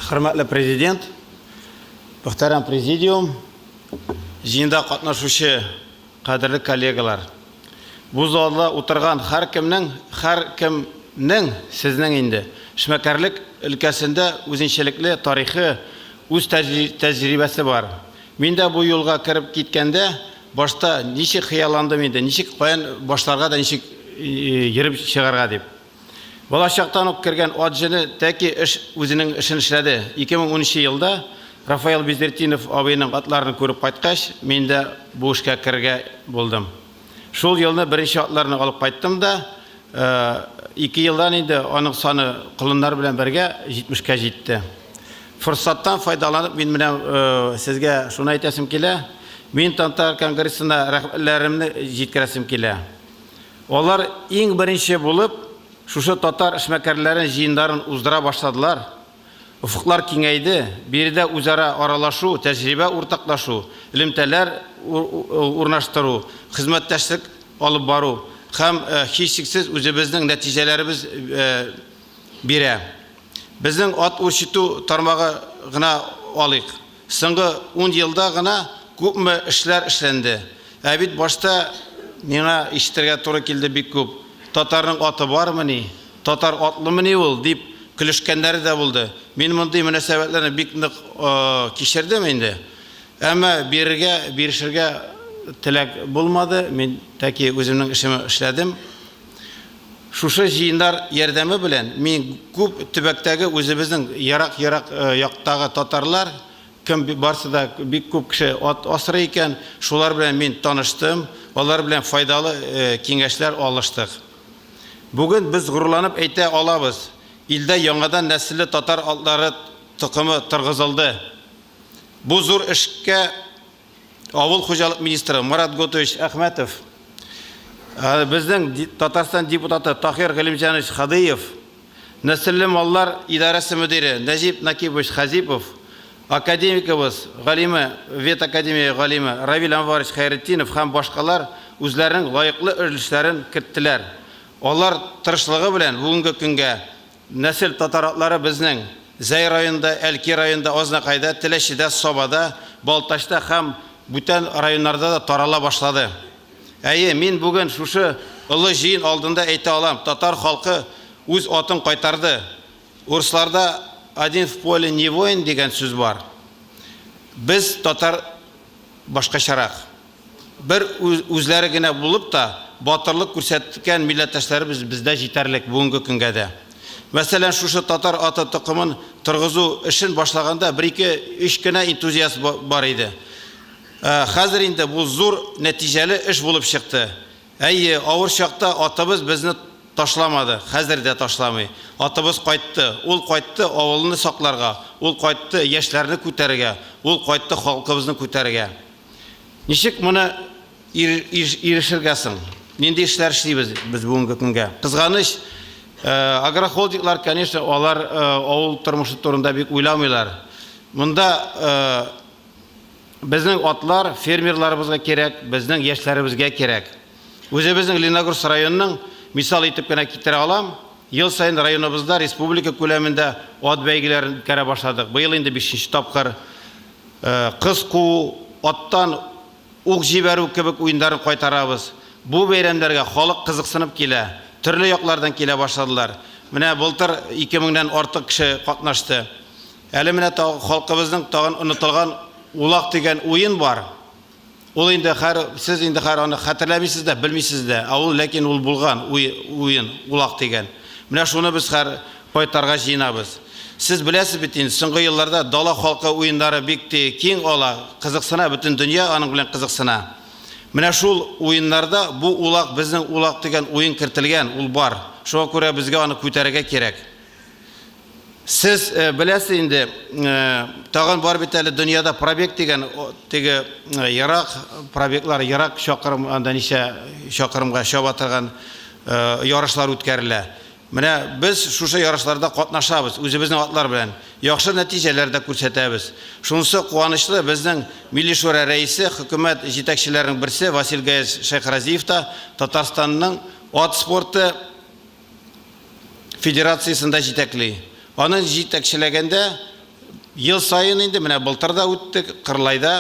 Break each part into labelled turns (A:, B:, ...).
A: Хөрмәтле Президент, мөхтәрәм Президиум, җыенда катнашучы кадерле коллегалар. Бу залда утырган һәркемнең, һәркемнең сезнең инде эшмәкәрлек өлкәсендә үзенчәлекле тарихы, үз тәҗрибәсе бар. Мин дә бу юлга кереп киткәндә, башта ничек хыялландым инде, ничек, каян башларга да, ничек йөреп чыгарга дип. Балачактан ук кергән ат җене тәки эш үзенең эшен эшләде. 2010 нчы елда Рафаэль Безертдинов абыйның атларын күреп кайткач, мин дә бу эшкә керергә булдым. Шул елны беренче атларны алып кайттым да, ике елдан инде аның саны колыннар белән бергә 70 кә җитте. Форсаттан файдаланып мин менә сезгә шуны әйтәсем килә, мин Тантар конгрессына рәхмәтләремне җиткерәсем килә. Алар иң беренче булып шушы татар эшмәкәрләре җыеннарын уздыра башладылар. Офыклар киңәйде, биредә үзара аралашу, тәҗрибә уртаклашу, элемтәләр урнаштыру, хезмәттәшлек алып бару һәм, һичшиксез, үзебезнең нәтиҗәләребез бирә. Безнең ат үрчетү тармагы гына алыйк. Соңгы ун елда гына күпме эшләр эшләнде. Ә бит башта миңа ишетергә туры килде бик күп, Татарның аты бармыни, татар атлымыни ул, дип көлешкәннәре дә булды. Мин мондый мөнәсәбәтләрне бик нык кичердем инде. Әмма бирергә, бирешергә теләк булмады, мин тәки үземнең эшемне эшләдем. Шушы җыеннар ярдәме белән мин күп төбәктәге үзебезнең ерак-ерак яктагы татарлар, кем барсы да бик күп кеше ат асрый икән, шулар белән мин таныштым, алар белән файдалы киңәшләр алыштык. Бүген без горурланып әйтә алабыз, илдә яңадан нәселле татар атлары токымы торгызылды. Бу зур эшкә Авыл хуҗалык министры Марат Готович Әхмәтов, ә, безнең Татарстан депутаты Тахир Галимҗанович Хадыев, Нәселле маллар идарәсе мөдире Нәҗип Накибович Хәзипов, академигыбыз, галиме, ветакадемия галиме Равил Әнварович Хәйретдинов һәм башкалар үзләренең лаеклы өлешләрен керттеләр. Алар тырышлыгы белән бүгенге көнгә Нәсел татар атлары безнең Зәй районында, Әлки районында, Азнакайда, Теләчедә, Сабада, Балтачта һәм бүтән районнарда да тарала башлады. Әйе, мин бүген шушы олы җыен алдында әйтә алам, татар халкы үз атын кайтарды. Урысларда Один в поле не воин дигән сүз бар. Без, татар, башкачарак. Бер үзләре генә булып та, батырлык күрсәткән милләттәшләребез бездә җитәрлек бүгенге көнгә дә. Мәсәлән, шушы татар аты токымын торгызу эшен башлаганда бер-ике, өч кенә энтузиаст бар иде. Ә хәзер инде бу зур, нәтиҗәле эш булып чыкты. Әйе, авыр чакта атыбыз безне ташламады, хәзер дә ташламый. Атыбыз кайтты. Ул кайтты авылны сакларга, ул кайтты яшьләрне күтәрергә, ул кайтты халкыбызны күтәрергә. Ничек моны ирешергә соң? Нинди эшләр эшлибез без бүгенге көнгә? Кызганыч, агрохолдинглар, конечно, алар авыл тормышы турында бик уйламыйлар. Монда безнең атлар фермерларыбызга кирәк, безнең яшьләребезгә кирәк. Үзебезнең Лениногорск районының мисал итеп кенә китерә алам. Ел саен районыбызда республика күләмендә ат бәйгеләрен үткәрә башладык. Быел инде бишенче тапкыр Кыз куу, аттан ук җибәрү кебек уендарын кайтарабыз. Бу бәйрәмнәргә халык кызыксынып килә, төрле яклардан килә башладылар. Менә былтыр ике меңнән артык кеше катнашты. Әле менә халкыбызның тагын онытылган Улак дигән уен бар. Ул инде хәр сез инде хәр аны хәтерләмисез дә, белмисез дә, ә ул ләкин ул булган уен, улак дигән. Менә шуны без хәр кайтарга җыенабыз. Сез беләсез бит инде, соңгы елларда дала халкы уеннары бик ти киң ала, кызыксына, бөтен дөнья аның белән кызыксына. Менә шул уеннарда бу улак, безнең улак дигән уен кертелгән, ул бар. Шуңа күрә безгә аны күтәрергә кирәк. Сез беләсез инде, тагын бар бит әле дөньяда пробег дигән теге ерак пробеглар, ерак чакрым, анда ничә чакрымга чаба торган ярышлар үткәрелә. Менә без шушы ярышларда катнашабыз, үзебезнең атлар белән. Яхшы нәтиҗәләр дә күрсәтәбез. Шунысы куанычлы, безнең Милли шура рәисе, хөкүмәт җитәкчеләренең берсе Васил Гаязь Шәйхразиев та Татарстанның ат спорты Федерациясен дә җитәкли. Аны җитәкчеләгәндә ел саен инде, менә былтыр да үтте, Кырлайда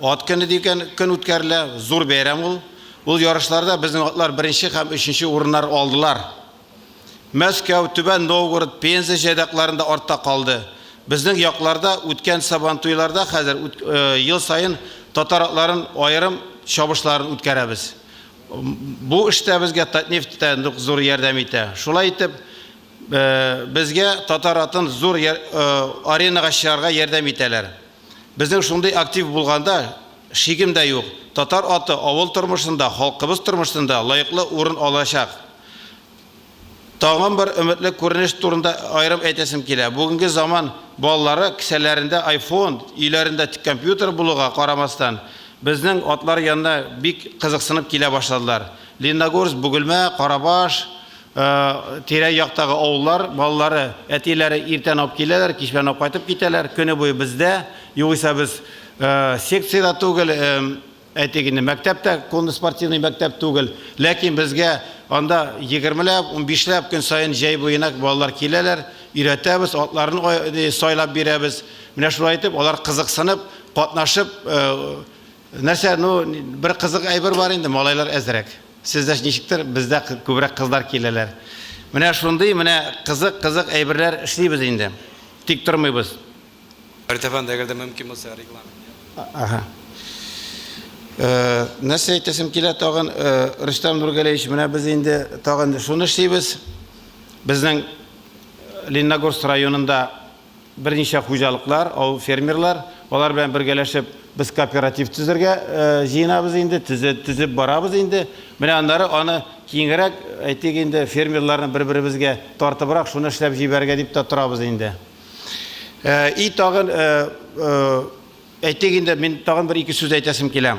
A: ат көне дигән көн үткәрелә, зур бәйрәм ул. Ул ярышларда безнең атлар беренче һәм өченче урыннар алдылар. Мәскәү, Түбән Новгород, Пенза җайдакларында артта калды. Безнең якларда үткән Сабантуйларда хәзер ел саен татар атларын аерым чабышларын үткәрәбез. Бу эштә безгә Татнефть тә нык зур ярдәм итә. Шулай итеп, безгә Татаратын зур аренага чыгарга ярдәм итәләр. Безнең шундый актив булганда шигем дә юк, татар аты авыл тормышында, халкыбыз тормышында лаеклы урын алачак. Тагын бер өметле күренеш турында аерым әйтәсем килә. Бүгенге заман балалары кесәләрендә айфон, өйләрендә тик компьютер булуга карамастан, безнең атлар янына бик кызыксынып килә башладылар. Лениногорск, Бөгелмә, Карабаш, тирә-яктагы авыллар балалары әтиләре иртән алып киләләр, кичмән алып кайтып китәләр, көне буе бездә, югыйсә без секциядә түгел, Әйтик инде, мәктәп тә конный спортивный мәктәп түгел, ләкин безгә анда егермеләп, унбишләп көн саен җәй буена балалар киләләр, өйрәтәбез, атларын сайлап бирәбез. Менә шулай итеп, алар кызыксынып, катнашып, нәрсә, ну, бер кызык әйбер бар инде, малайлар әзрәк. Сездә ничектер, бездә күбрәк кызлар киләләр. Менә шундый, менә кызык-кызык әйберләр эшлибез инде. Тик тормыйбыз. Артефан,
B: әгәр дә мөмкин булса, регламент. Ага. Э,
A: нәрсә әйтәсем килә тагын, э, Рөстәм Нургалеевич, менә без инде тагын шуны эшлибез. Безнең э, Лениногорск районында берничә хуҗалыклар, авыл фермерлар, алар белән бергәләшеп без кооператив төзергә җыенабыз инде, төзеп барабыз инде. Менә аннары аны киңрәк, әйтик инде, фермерларны бер-беребезгә тартыбрак шуны эшләп җибәрергә дип тә торабыз инде. Э, и тагын э, э, әйтик инде мин тагын бер ике сүз әйтәсем килә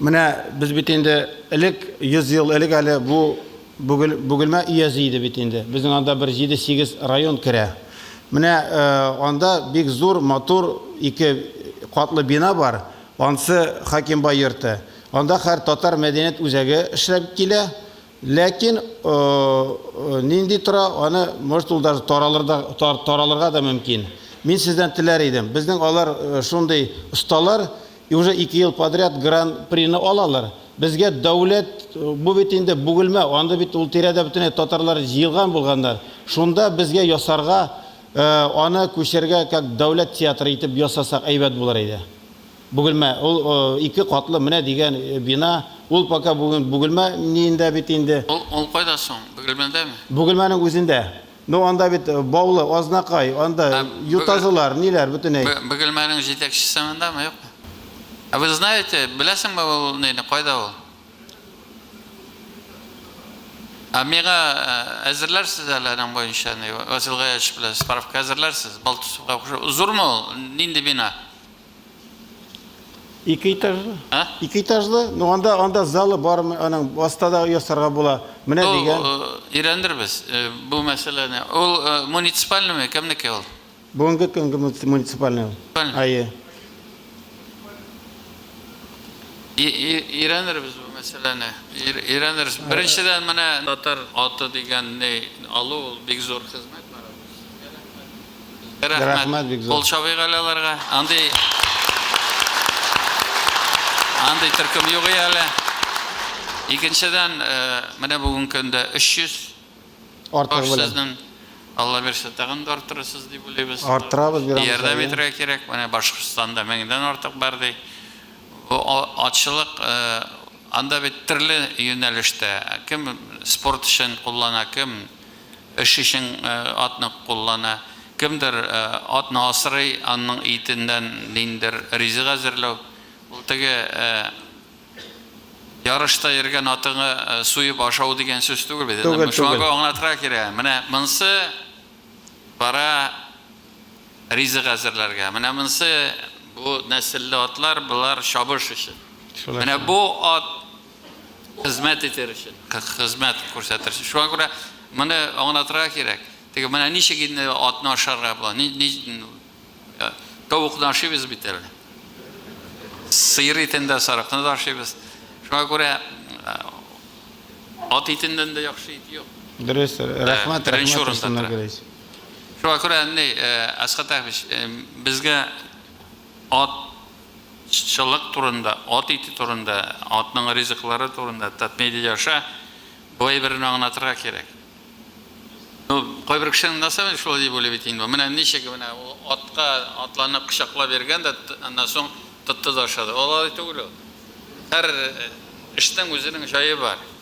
A: менә без бит инде элек йөз ел элек әле бу бөгелмә өязе иде бит инде безнең анда бер җиде сигез район керә менә анда бик зур матур ике катлы бина бар ансы хакимбай йорты анда хәр татар мәдәният үзәге эшләп килә Ләкин нинди тора, аны, может, ул даже таралырга да мөмкин. Мин сездән теләр идем. Безнең алар шундый осталар, и уже ике ел подряд гран-прины алалар. Безгә дәүләт, бу бит инде Бугелмә, анда бит ул тирәдә бөтенләй татарлар җыелган булганнар. Шунда безгә ясарга, аны күчәргә, как дәүләт театры итеп ясасак әйбәт булыр иде. Бөгелмә, ул ике катлы менә дигән бина, ул пока бүген Бөгелмә ниендә бит инде. Ул кайда соң,
C: Бөгелмәдәме? Бөгелмәнең үзендә.
A: Ну анда бит Баулы, Азнакай, анда Ютазылар, ниләр, бөтенәй. Бөгелмәнең җитәкчесе
C: мондамы, юкмы? А вы знаете, беләсеңме ул нейне, кайда ул? А миңа әзерләрсез әле аның буенча, Васил Гаяч белән справка әзерләрсез, Балтусовка охшап, зурмы ул, нинди бина?
A: Ике этажлы? Ә? Ике этажлы? Ну анда анда залы бармы? Аның астада ясарга була. Менә дигән. Өйрәндербез э,
C: бу мәсьәләне. Ул э, муниципальныймы, кемнеке ул? Бүгенге көнге
A: муниципальный. Ае. Өйрәндербез
C: бу мәсьәләне. Өйрәндербез. Беренчедән менә татар аты дигәнне алу ул бик зур хезмәт. Рәхмәт, бик зур. Кул чабыйк әле аларга. Андый Андый төркем юк и әле. Икенчедән, менә бүген көндә 300 Артыгы
A: белән. Сезнең Алла бирсә,
C: тагын да арттырырсыз дип уйлыйбыз. Арттырабыз, бирәбез. Ярдәм
A: итәргә кирәк.
C: Менә Башкортстанда 1000 дән артык бар ди. Бу атчылык, анда бит төрле юнәлештә, кем спорт өчен куллана, кем Эш өчен атны куллана. Кемдер атны асрый, анның итеннән ниндидер ризык әзерләү. Ул теге ярышта йөргән атыңы суеп ашау дигән сүз түгел бит инде. Түгел, түгел. Шуңа аңлатырга кирәк. Менә монсы бара ризык әзерләргә. Менә монсы бу нәселле атлар, болар чабыш өчен. Менә бу ат Хезмәт итәр өчен. Хезмәт күрсәтер өчен. Шуңа күрә моны аңлатырга кирәк. Теге менә ничек инде атны ашарга була? Ни, ни э, тавыкны ашыйбыз бит әле. Сыер итен дә, сарыкны да ашыйбыз. Шуңа күрә э,
A: ат итеннән
C: дә яхшы ит юк. Дөрес, рәхмәт,
A: Беренче
C: рәхмәт урында Руслан тора. Әгәрәевич. Шуңа күрә ни, э, Әсхат Әхмич, э, безгә ат чылык турында, ат ите турында, атның ризыклары турында, Татмедиа аша бу әйберне аңлатырга кирәк. Ну, кайбер кешенең насабе шулай дип уйлый бит инде бу. Менә ничек менә атка атланып кочаклап йөргән дә, аннан соң тотты да ашады. Алай түгел ул. Һәр эшнең үзенең җае бар.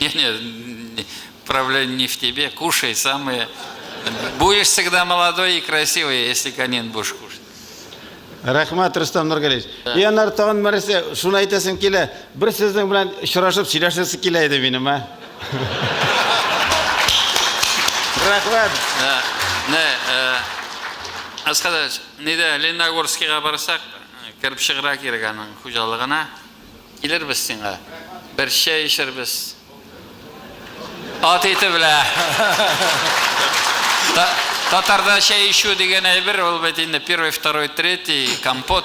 C: Не, не, проблема не в тебе, кушай самые. Будешь всегда молодой и красивый, если конин будешь кушать.
A: Рәхмәт, Рустам Нургалевич. И анар тагын нәрсә, шуны әйтәсем килә. Бер сезнең белән очрашып сөйләшәсе килә иде минем, а? Рәхмәт. Не,
C: Аскадач, нидә Лениногорскига барсак, кереп чыгыра кирәк аның хуҗалыгына. Килербез сиңа, бер чәй эчербез. Ат ите белә. Татарда чәй ичү дигән әйбер, ул бит инде первый, второй, третий, компот.